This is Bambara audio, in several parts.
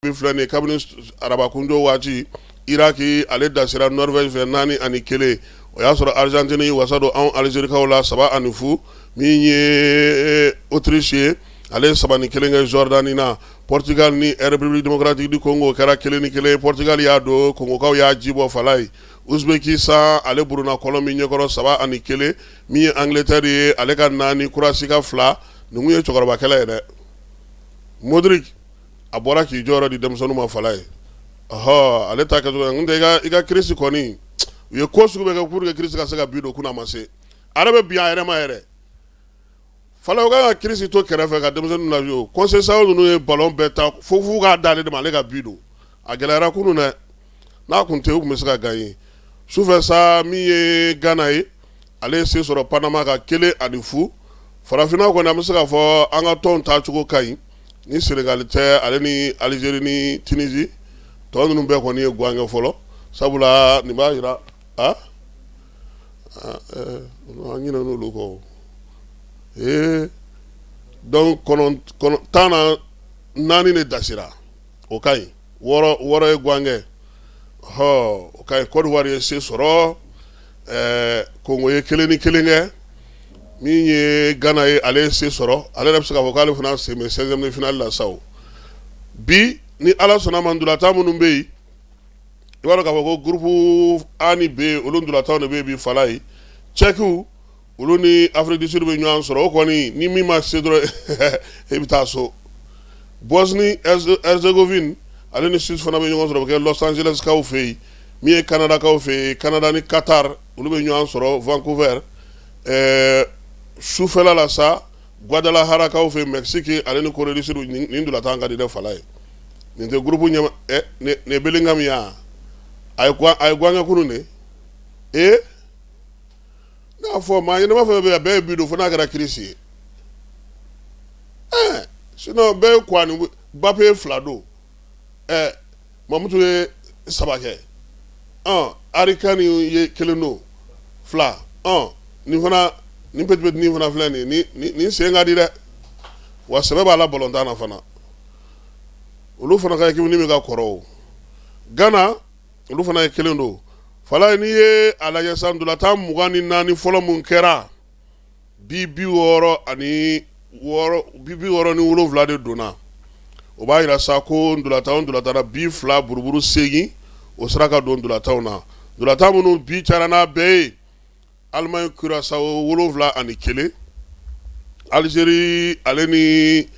Min filɛ nin ye kabini arabakundon waati Iraki ale dasira Norvège fɛ 4 ani 1 o y'a sɔrɔ Argentine ye wasa don anw Alizerikaw la 3 ani 0 min ye Autriche ye ale ye 3 ni 1 kɛ Jordanie na Portugal ni République Democratique du Congo o kɛra 1 ni 1 ye Portugal y'a don Congokaw y'a ji bɔ Falaye Uzbekistan ale buruna Colombie ɲɛkɔrɔ 3 ani 1 min ye Angleterre ye ale ka 4 Croatie ka 2 nin tun ye cɛkɔrɔbakɛlɛ ye dɛ Modric a bɔra k'i jɔyɔrɔ di denmisɛnninw ma Falaye ɔ ale ta i ka Cris kɔni u ye ko sugu bɛɛ kɛ pour que Cris ka se ka bi don kunun a ma se ale bɛ bin a yɛrɛ ma yɛrɛ Fala u ka Cris to kɛrɛfɛ ka denmisɛnninw la Conceição ninnu ye balɔn bɛɛ ta fo fo k'a d'ale de ma ale ka bi don a gɛlɛyara kunun dɛ n'a tun tɛ u tun bɛ se ka gagner sufɛ sa min ye Ghana ye ale ye se sɔrɔ Panama kan kelen ani fu Farafinna kɔni an bɛ se k'a fɔ an ka tɔn tacogo ka ɲi ni Sénégal tɛ ale ni Algérie ni Tunisie tɔn ninnu bɛɛ kɔni ye gan kɛ fɔlɔ sabula nin b'a jira an ɲinɛn'olu kɔ ee donc tan na naani de dasira o ka ɲi wɔɔrɔ ye gan kɛ hɔ o ka ɲi Côte d'Ivoire ye se sɔrɔ ɛɛ Congo ye kelen ni kelen kɛ min ye Ghana ye ale ye se sɔrɔ ale yɛrɛ bɛ se k'a fɔ k'ale fana sen bɛ seizième de finale la sa o bi ni Ala sɔnna ma ntolatan minnu bɛ yen i b'a dɔn k'a fɔ ko groupe A ani B olu ntolatanw de bɛ yen bi Falaye Tchèque olu ni Afrique du Sud bɛ ɲɔgɔn sɔrɔ o kɔni ni min ma se dɔrɔn e bɛ taa so Bosnie Herzégovine ale ni Suisse fana bɛ ɲɔgɔn sɔrɔ o bɛ kɛ Los Angeleskaw fɛ yen min ye Canadakaw fɛ yen Canada ni Qatar olu bɛ ɲɔgɔn sɔrɔ Vancouver ɛɛ sufɛla la sa Guadalajarakaw fɛ Mexique ale ni Corée du Sud nin ntolatan ka di dɛ Falaye nin tɛ groupe ɲɛ nin Bellingham ya a ye gan kɛ kunun dɛ ee N'a fɔ maa ɲɛnama fɛn bɛɛ bɛɛ ye bi don fo n'a kɛra Cris ye sinon bɛɛ Mbappé ye fila don Mamutu ye saba kɛ Harry Kane ye kelen don fila nin fana ni petit nin fana filɛ nin sen ka di dɛ wa sɛbɛ b'a la balɔntan na fana olu fana ka équipe ni min ka kɔrɔ Ghana olu fana ye kelen don Falaye n'i ye a lajɛ sa ntolatan mugan ni naani fɔlɔ minnu kɛra bi bi wɔɔrɔ ani bi bi wɔɔrɔ ni wolowula de donna o b'a jira sa ko ntolatan o ntolatan na bi fila buruburu segin o sera ka don ntolatanw na ntolatan minnu bi cayara n'a bɛɛ ye Alimaɲi kurasawo wolonwula ani kelen alizeri ale ni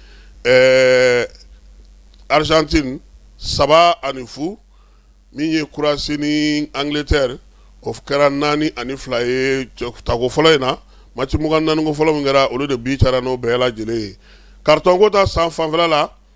arizantini saba ani fu min ye kurowasi ni angileteri o kɛra naani ani fila ye tako fɔlɔ in na mati mugan ni naani ko fɔlɔ min kɛra olu de bi taara n'o bɛɛ lajɛlen ye kariton ko ta san fanfɛla la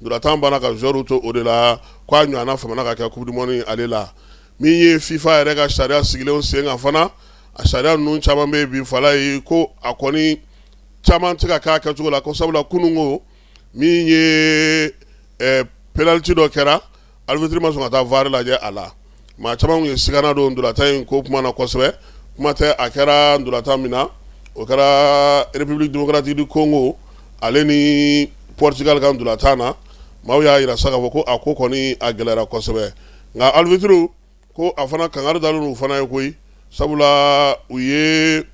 Ndolatan banna ka zuwɛriw to o de la k' a ɲɔgɔnna famana ka kɛ coupe du monde ale la min ye fifa yɛrɛ ka sariya sigilenw sen kan fana a sariya ninnu caman bɛ bi fala ye ko a kɔni caman tɛ ka k'a kɛcogo la ko sabula kununko min ye penaliti dɔ kɛra Alibitiri ma sɔn ka taa VAR lajɛ a la maa caman ye sigana don ndolatan in ko kuma na kosɛbɛ kuma tɛ a kɛra ndolatan min na o kɛra République démocratique du Congo ale ni Portugal ka ndolatan na maaw y'a jira sa k'a fɔ ko a ko kɔni a gɛlɛyara kosɛbɛ nka alibitiriw ko a fana kangari dalen u fana ye koyi sabula u ye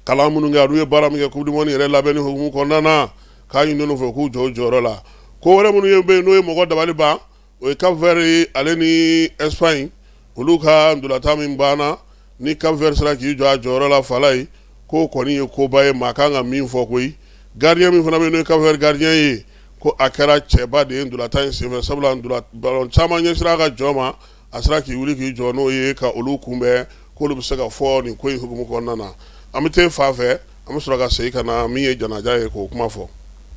kalan minnu kɛ ani u ye baara min kɛ coupe du monde yɛrɛ labɛnni hukumu kɔnɔna na k'a ɲini olu fɛ k'u jɔ u jɔyɔrɔ la ko wɛrɛ minnu bɛ yen n'o ye mɔgɔ dabali ban o ye Cap-Vert ale ni Espagne olu ka ndolatan min banna ni Cap-Vert sera k'i jɔ a jɔyɔrɔ la fala ye ko kɔni ye koba ye maa kan ka min fɔ koyi gardien min fana bɛ yen n'o ye Cap-Vert gardien ye ko a kɛra cɛba de ye ndolatan in senfɛ sabula balɔn caman ɲɛsira a ka jɔ ma a sera k'i wuli k'i jɔ n'o ye ka olu kunbɛn ko olu bɛ se ka fɔ nin ko in hukumu kɔnɔna na an bɛ taa fan fɛ an bɛ sɔrɔ ka segin ka na min ye janaja ye k'o kuma fɔ